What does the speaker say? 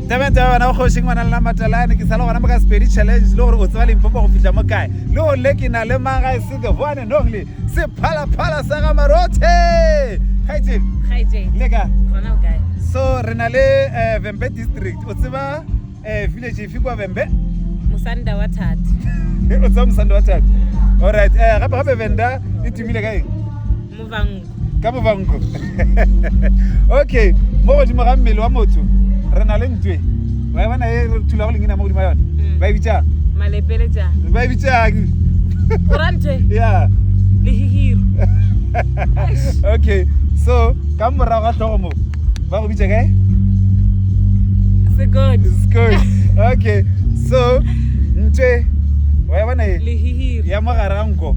tebete ba bona kgoši ngwana le namatelane ke sa le gona mo ka sepedi challenge le gore o tseba limpopo go fitlha mo kae le gore le ke na le maga e se the one and only sephalaphala sa ga marothe leka so re na le eh, vembe district o tseba eh, village efe kwa vembe mosanda wa thati o tseba mosanda wa thati allright um eh, gape gape venda e tumile ka eng ka bobanko okay mo godimo ga mmele wa motho re na le ntwe ba e bona e re thulago lengina mo godimo ga yone mm. ba e bitsang ba e bitsang ya okay so ka morago ga tlhogo mo ba go bitsa kae okay so ntwe wa e bona e ya mogare ga nko